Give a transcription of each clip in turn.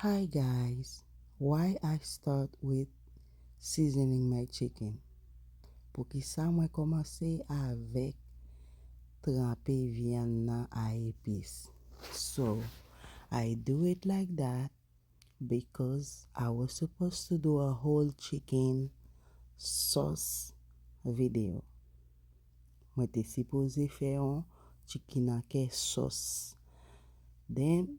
Hi guys why I start with seasoning my chicken poukisa mwen komanse avek tranpe vyann nan a epis so I do it like that because I was supposed to do a whole chicken sauce video mwen te sipoze fè yon chicken anke sauce then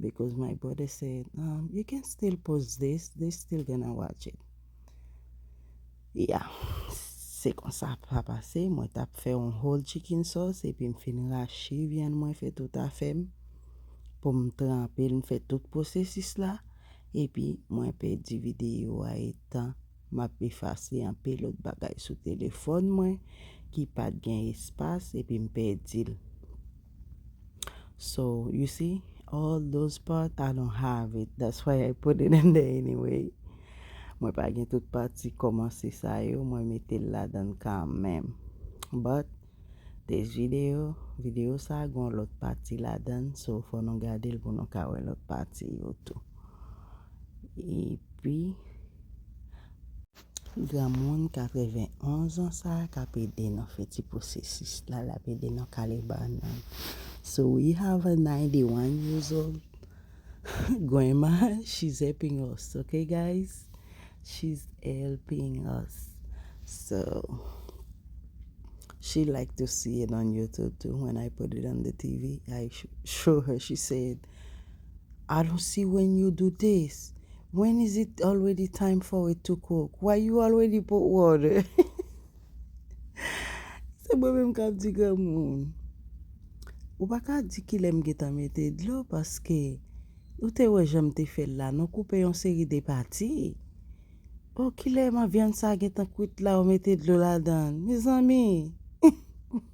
because my brother said um, you can still post this, they still gonna watch it yeah se konsa sa pase, mwen tap fè yon whole chicken sauce epi m fin rache vyann mwen fè tout afè m pou m tranpe l m fè tout pwosesis la epi mwen pèdi videyo a etan map efase anpe lòt bagay sou telefòn mwen ki pat gen espas epi m pèdi l. So you see all those part I don't have it that's why I put it in there anyway mwen pa gen tout pati kòmanse sa yo mwen mete l ladan kanmenm but this video video sa gon lòt pati ladan so fò nou gade l pou nou ka wè lòt pati yo tou epi Granmoun 91 ans sa k ap ede nou fè ti pwosesis la, l ap ede nou kale bannann. So we have a 91 years old grandma, she's helping us ok guys, she's helping us so she like to see it on YouTube too, when I put it on the TV I show her, she said I don't see when you do this when is it already time for it to cook why you already put water se mwen menm kap di granmoun ou pa ka di ki lèm getan mete dlo paske ou te wè janm te fèl la nou koupe yon seri de pati oh kilè ma vyann sa gentan kwit la ou mete dlo ladan mezanmi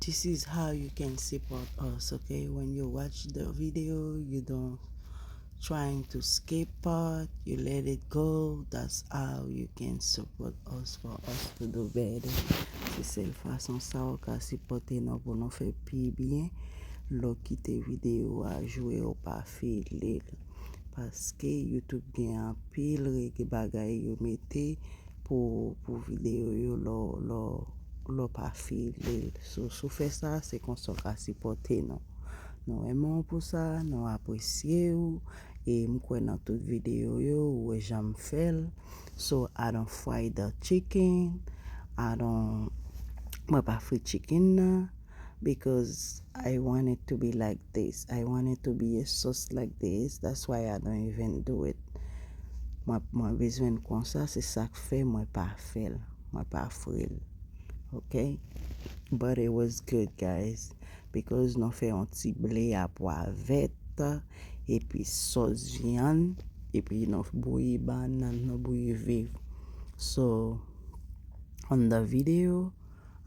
This is how you can support us ok when you watch the video you don't trying to skip part you let it go that's how you can support us for us to do better se sèl fason sa ou ka sipòte nou pou nou fè pi byen lè w kite video a jwe ou pa file l paske youtube gen anpil règle bagay yo mete pou video yo lè w pa file l. Si w fè sa, se konsa w ka sipòte nou. Nou renmen w pou sa, nou apresye w e m kwè nan tout video yo ou wè jan m fè l. So I don't fry the chicken, I don't, mwen pa fri chicken nan. because I want it to be like this, I want it to be a sauce like this that's why I don't even do it mwen bezwen l konsa se sak fè mwen pa fè l, mwen pa fri l ok but it was good guys because nou fè yon ti ble a pwa vèt epi sòs vyann epi nou bouyi bannann nou bouyi viv so on the video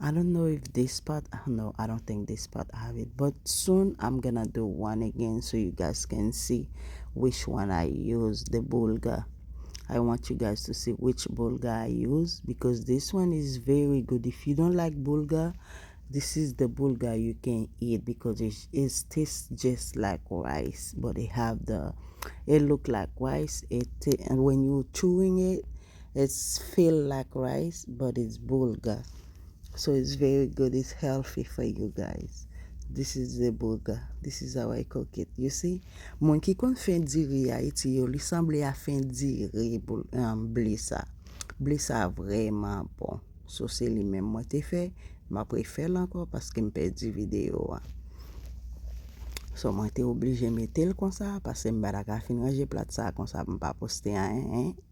I don't know if this part no I don't think this part I have it but soon I'm gonna do one again so you guys can see which one I use the bulgur I want you guys to see which bulgur I use because this one is very good if you don't like bulgur this is the bulgur you can eat because it is taste just like rice but it have the it look like rice it when you chewing it It's feel like rice but it's boulga so it's very good it's healthy for you guys this is the boulga this is how I cook it you see moun ki konn fen diri Haïti yo li sanble a fen diri ble sa ble sa vrèman bon so se li menm mwen te fè map refèl ankò paske m pèdi video a so mwen te oblije metel konsa pasem pa ta ka fin ranje plat sa konsa pou m pa poste anyen.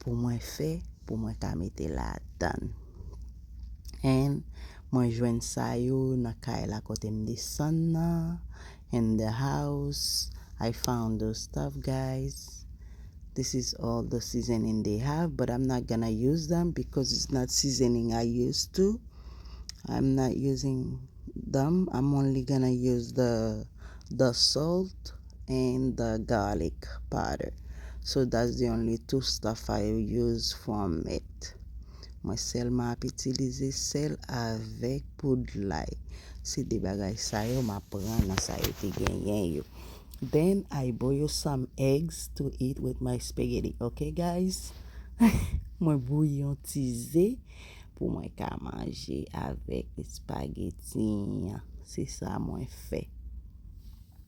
pou mwen fè pou mwen ka mete ladan and mwen jwenn sa yo nan kay la kote m desann nan in the house I found those stuff guys this is all the seasoning they have but I'm not gonna use them because it's not seasoning I used to I'm not using them I'm only gonna use the the salt and the garlic powder so that's the only two stuff I use from it mwen sèlman ap itilize sèl avèk poud lay se 2 bagay sa yo map pran nan sa yo te genyen yo then I boil some eggs to eat with my spaghetti ok guys mwen bouyi yon ti ze pou mwen ka manje avèk espagetti an se sa mwen fè.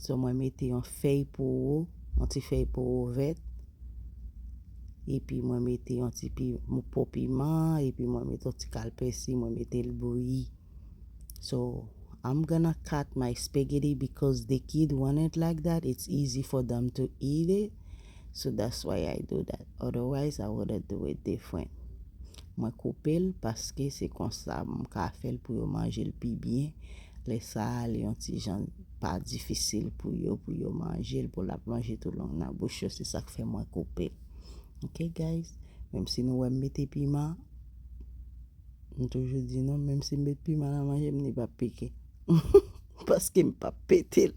So mwen mete yon fèy powo, yon ti fèy powo vèt. Epi mwen mete yon ti pi mou po piman, epi mwen mete yon ti kal pèsi, mwen mete l bouyi. So, I'm gonna cut my spaghetti because the kid want it like that, it's easy for them to eat it. So that's why I do that otherwise I wouldn't do it different. Mwen koupe l paske se konsa m ka fè l pou yo manje l pi byen, lè sa a li yon ti jan pa difisil pou yo pou yo manje l pou l ap lonje tou long nan bouch yo se sak fè mwen koupe l ok guys menm si nou wè m mete piman m toujou di nou menm si m met piman nan manje m li pap pike paske m pap pete l.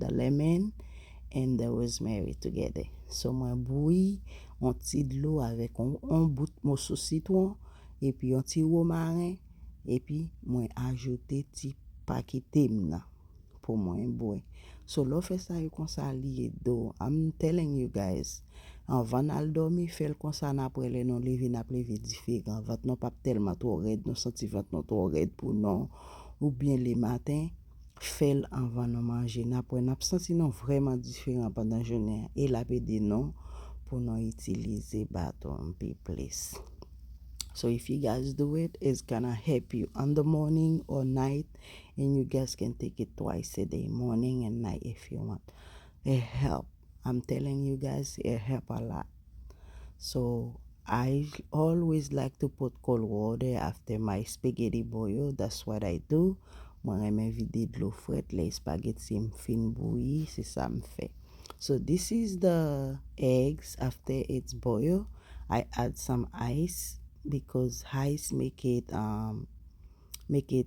the lemon and the rosemary together so mwen bouyi yon ti dlo avèk yon bout moso sitwon epi yon ti romaren epi mwen ajoute ti pakete m nan pou mwen bwè so lè w fè sa yo konsa li ede w I'm telling you guys anvan n al dòmi fè l konsa n aprè lè nou leve n ap leve diferan vant nou p ap tèlman twò rèd nou santi vant nou twò rèd pou nou oubyen lematen. Fèl anvan nou manje nap wè nap santi nou vrèman diferan pandan jounen an e lap ede nou pou nou itilize baton pi plis. So if you guys do it, it's gonna help you on the morning or night and you guys can take it twice a day, morning and night if you want. It help. I'm telling you guys it help a lot so I always like to put cold water after my spaghetti boil that's what I do mwen renmen vide dlo frèt lè espageti m fin bouyi se sa m fè so this is the eggs after it's boil I add some ice because ice make it um, make it.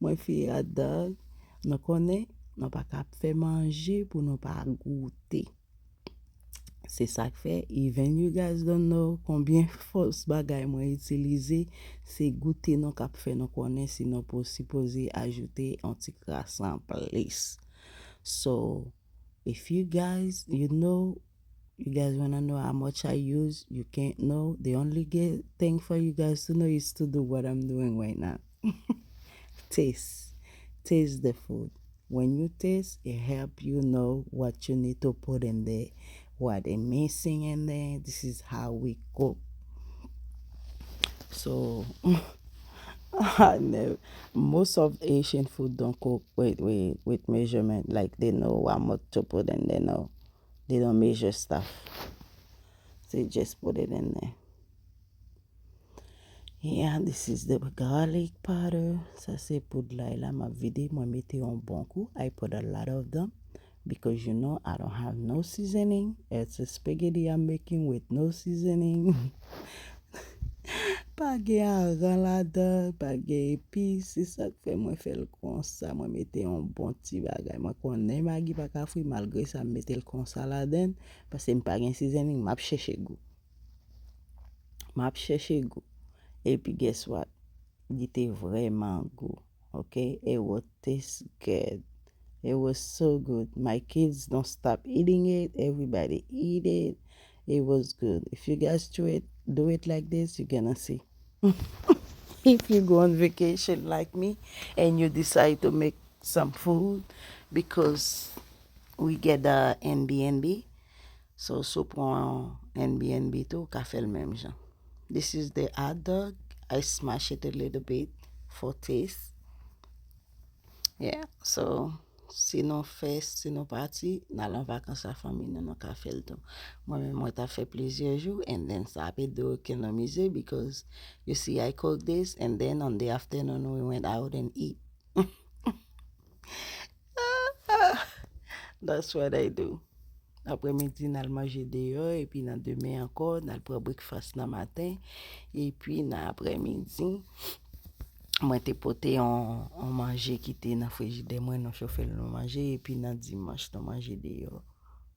Mwen fi otdog nou konnen nou pa ka ap fè manje pou nou pa goute se sak fè even you guys don't know konbyen fòs bagay mwen itilize se goute nou kap fè nou konnen si nou sipoze ajoute yon ti kras anplis so If you guys you know you guys wanna know how much I use you can't know the only thing for you guys to know is to do what I'm doing right now Taste Taste the food When you taste it help you know what you need to put in there What a missing in there this is how we go so most of Haitian food don't cook with with with measurement like they know how much to put in there no they don't measure stuff they just put it in there yeah this is the garlic powder sa se poud lay la map vide mwen mete yon bon kou I put a lot of them Because you know I don't have no seasoning, it's a spaghetti I'm making with no seasoning. Pa gen aran ladan, pa gen epis, se sa k fè mwen fè l konsa. Mwen mete yon bon ti bagay. Mwen konnen magi pa ka fri, malgre sa m mete l konsa ladan l, paske m pa gen seasoning, m ap chèche gou. M ap chèche gou. Epi guess what? Li te vrèman gou. Ok it was taste good it was so good my kids don't stop eating it everybody eat it it was good if you guys to it do it like this you gonna see if you go on vacation like me and you decide to make some food because we get the Airbnb So si w pran yon NBNB tou ou ka fèl menm jan. This is the hot dog, I smash it a little bit for taste. Yeah, so si nou fè, si nou pati, nal an vakans a fanmi nou, nou ka fèl tou. Mwen menm mwen ta fè plizyè jou and then sa ap ede w ekonomize because you see I cook this and then on the afternoon we went out and eat. That's what I do. Aprè midi nan manje deyò epi nan demen ankò nan pran breakfast nan maten epi nan aprè midi mwen te pote yon manje ki te nan frijidè mwen nou chofe l nou manje epi nan dimanch nou manje deyò.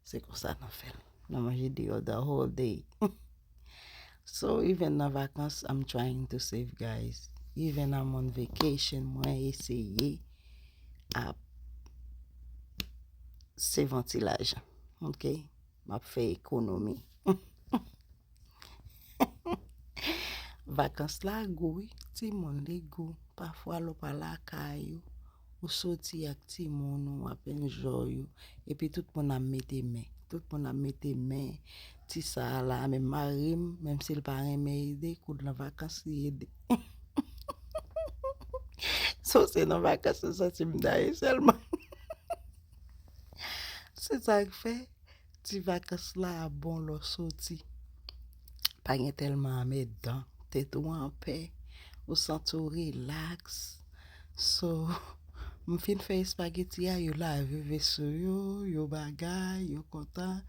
Se konsa nou fè l. Nou manje deyò the whole day. So even nan vakans I'm trying to save guys Even I'm on vacation mwen eseye ap save yon ti lajan Ok Map fè ekonomi Vakans la gou wi timoun li gou Pafwa lè w pa lakay ou Ou soti ak timoun ou apen joy ou epi tout moun ap mete men, tout moun ap mete men ti sa la menm marim menm sil pa renmen ede koud lan vakans li ede so se nan vakans ou santim daye selman se sak fè. Ti vakans la a bon lè w soti. Pa gen tèlman anmèdan. Tèt ou anpè. Ou santi w rilaks. So, m fin fè espageti a, yo lave veso yo, yo bagay, yo kontan.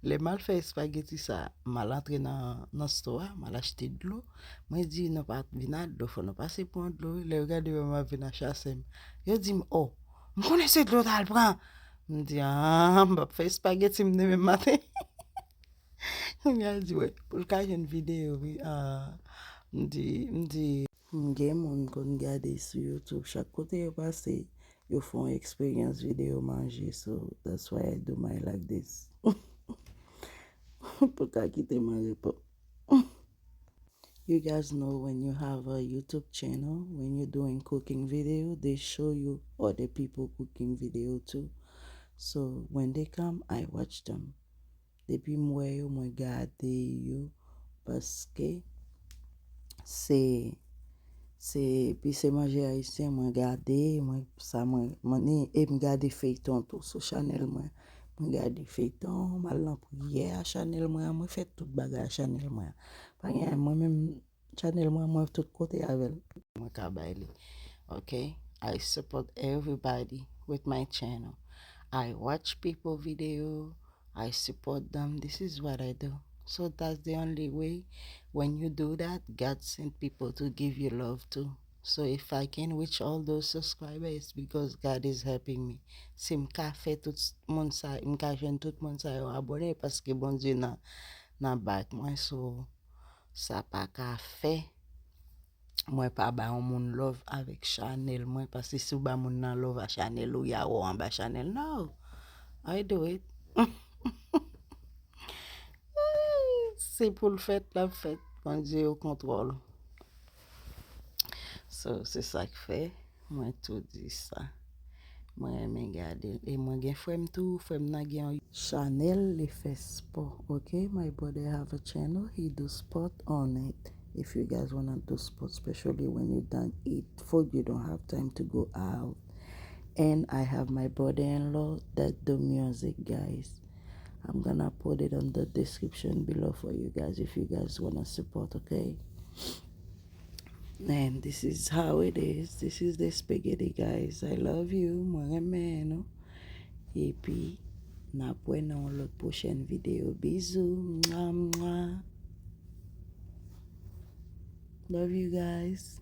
Lè m al fè espageti sa a, m al antre nan stò a, m al achte dlo. Mwen di, Nou pa vin ak dlo, fò nou pase pran dlo wi. Lè yo gade m ap vin a chase m. Yo di m, O! M konnen se dlo w t al pran. M di, An, m p ap fè espageti m demen maten. Kounye a l di, Wè, pou l ka jwenn videyo wi. M di, m di. M gen moun m konn gade sou YouTube, chak kote yo pase, yo fè yon eksperyans videyo manje. So, that's why I do my like this. Pou l ka kite m an repo. You guys know when you have a YouTube channel when you doing cooking video they show you other people cooking video too so when they come I watch them depi m wè yo mwen gade yo paske se se epi se manje ayisyen mwen gade mwen sa mwen ni e m gade feyton tou sou chanèl mwen. Mwen gade feyton, m al nan priyè a chanèl mwen an, mwen fè tout bagay a chanèl mwen an. Pa gen anyen mwen menm chanèl mwen an mwen tout kote avè l. Mwen ka bay li ok. I support everybody with my channel I watch people video I support them this is what I do so that's the only way when you do that God send people to give you love too So if I can reach all those subscriber it's because God is helping me. Si m ka fè tout moun sa m ka jwenn tout moun sa yo abone paske Bondye nan nan back mwen so sa pa ka fè mwen pa ba yon moun love avèk chanèl mwen paske si w ba moun nan love a chanèl ou ya wè anba chanèl no I do it se pou l fèt l ap fèt Bondye o kontwòl. So se sak fè mwen tou di sa. Mwen renmen gade l. E mwen gen frè m tou. Frè m nan gen yon. Chanèl li fè spò ok. My brother have a channel he do sport on it if you guys wanna do sport specially when you done eat food you don't have time to go out and I have my brother in law that do music guys I'm gonna put it on the description below for you guys if you guys wanna support okay and this is how it is this is the spaghetti guys I love you mwen renmen nou epi napwe nan yon lot pwochen video bizou mwa mwa love you guys